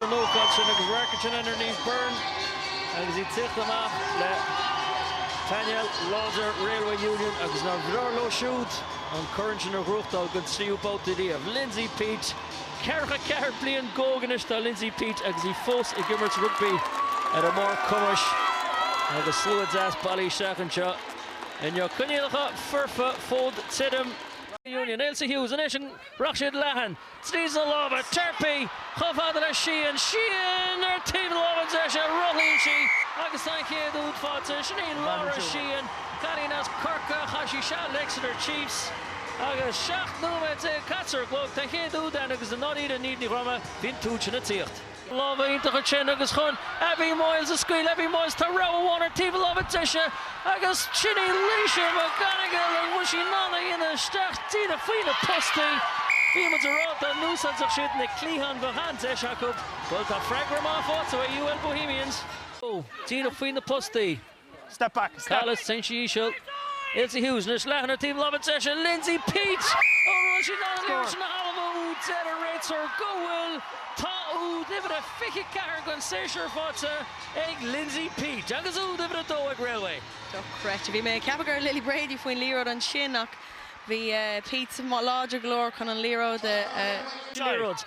an ócáid sin agus Raicatin anoir Niamh Byrne agus í ag tíocht amach le painéal láidir Railway Union agus nár bhreá leo siúd an corn sin a ghnóthachtáil den tríú babhta riamh. Lindsay Peat. Ceathracha ceathair bliain go hóg anois atá Lindsay Peat agus í fós ag imirt rugbaí ar a barr cumais agus slua deas bailithe isteach anseo inniu. Coinníollacha foirfe, fód tirim. Union. Ailsa Hughes anois, an rachaidh siad leathan? tríd na lámha Tarpey chomh fada le Sheehan, Sheehan ar thaobh na lámha deise, rothlaíonn sí agus tá an chéad úd faighte, sin í Laura Sheehan, cailín as Corcaigh, chaith sí seal le Exeter Chiefs agus 17 nóiméad caite ar an gclog, tá an chéad úd ann agus i ndáiríre, a Niamh Ní Dhroma, bhí an t-úd sin ag tíocht. Lámha iontacha ansin agus chun Abbie Moyles a scaoileadh, Abbie Moyles tá rogha amháin ar taobh a láimhe deise agus sin í Laoise McGonagle, an bhfuil sí in ann a dhéanamh isteach díreach faoi na postaí? Bhí muid a rá dá n-úsáidfeadh siad na cliatháin bheadh an-deis acu, bhuel tá freagra maith faighte ag UL Bohemians! Díreach faoi na postaí. Collis ansin íseal. Ailsa Hughes anois leathan ar taobh láimhe deise Lindsay Peat! An bhfuil sí in ann é a thalmhú? Deir an réiteoir go bhfuil. Tá úd uimhir a 24 den séasúr faighte ag Lindsay Peat agus úd uimhir a dó ag Railway. Dochreidte. Bhí mé ag ceapadh go raibh Lily Brady faoin liathróid ansin ach bhí Peat láidir go leor chun an liathróid a. Liathróid.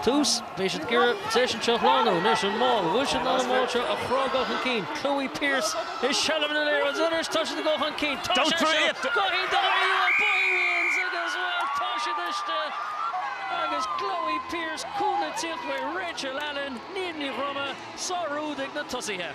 Tús, beidh siad ag iarraidh seisean seo a shlánú anois, an mál. Bhfuil siad in ann an mál seo a chrogadh chun cinn? Chloe Pearse i seilbh na liathróide agus anois tá siad ag dul chun cinn. Tá sé seo go hiontach ar iarraidh Bohemians agus, bhuel, tá siad istigh agus Chloe Pearse, cúnamh ag tíocht ó Rachel Allen, Niamh Ní Dhroma, sárúd ag na tosaithe.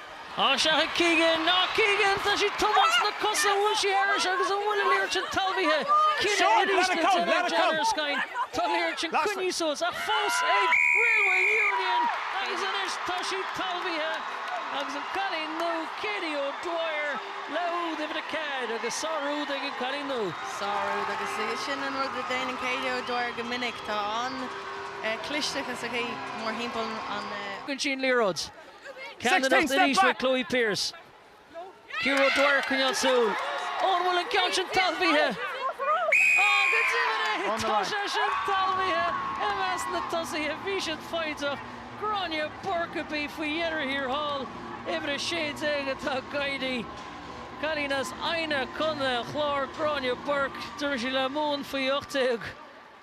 Á, seachain Keegan! Á, Keegan! Tá sí ag tumadh sna cosa, an bhfuil sí thairis agus an bhfuil an liathróid sin talmhaithe. Cinneadh arís le déanamh ag John Erskine. Tá an liathróid sin coinnithe suas, ach fós ag Railway Union! Agus anois tá sí talmhaithe agus an cailín nua, Katie O'Dwyer, le úd uimhir a ceathair agus sárúd ag an cailín nua. Sárúd, agus sin an rud a déanann Katie O'Dwyer go minic. Tá an-chlisteachas aici mórthimpeall an. Fhaigheann sí an liathróid. Ceannaireacht arís le Chloe Pearse. Ciara O'Dwyer ag coinneáil súil. Ó, an bhfuil an ceann sin talmhaithe? Ó, go deimhin é! Tá sé sin talmhaithe! I measc na dtosaithe, bhí siad foighdeach. Gráinne Burke a bhí faoi dheireadh thiar thall. Uimhir 16 atá ag éirí. Cailín as Eidhneach, Co an Chláir, Gráinne Burke. D'imir sí le Mumhan faoi 18.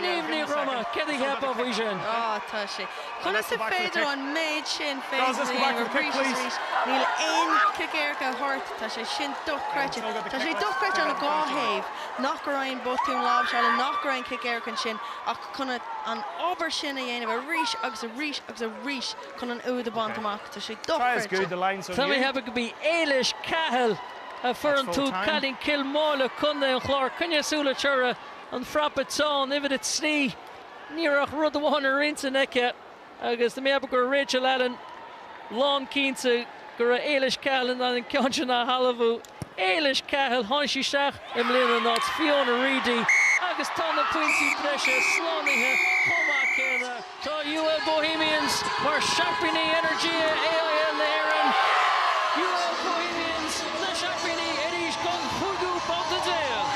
Niamh Ní Dhroma, céard a cheapfá faoi sin? Ó, tá sé. Conas is féidir an méid sin féin a dhéanamh arís is arís? Níl aon chic éirice á thabhairt, tá sé sin dochreidte. Tá sé dochreidte ón dá thaobh, nach raibh aon botún láimhseála, nach raibh aon chic éirice ansin, ach chun an obair sin a dhéanamh arís agus arís agus arís chun an úd a bhaint amach, tá sé dochreidte. Tá mé ag ceapadh gurb í Éilis Cahill a fuair an t-úd cailín Cill Mháille, Contae an Chláir, coinnigh súil uirthi. an frapa teann, uimhir a trí. Ní raibh ach rud amháin ar intinn aici agus d'imigh Bogue ar Rachel Allen, lán cinnte go raibh Éilis Cahill in ann an ceann sin a thalmhú. Éilis Cahill, tháinig sí isteach i mbliana in áit Fiona Reidy agus tá na pointí breise slánaithe chomh maith céanna. Tá UL Bohemians ina seaimpíní Energia AIL na hÉireann! UL Bohemians ina seaimpíní arís don chúigiú babhta déag!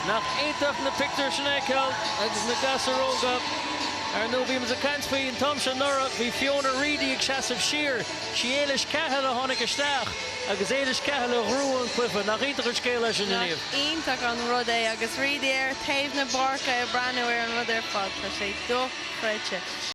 Nach iontach na pictiúir sin a fheiceáil agus na gasúir óga, ar ndóigh, bhí muid ag caint faoi an t-am seo anuraidh, bhí Fiona Reidy ag seasamh siar, sí Éilis Cahill a tháinig isteach. Agus Éilis Cahill a ghnóthaigh an cluife. Nach iontach an scéal é sin, a Niamh? Iontach an rud é agus Reedy ar thaobh na páirce ag breathnú ar an rud ar fad. Tá sé dochreidte.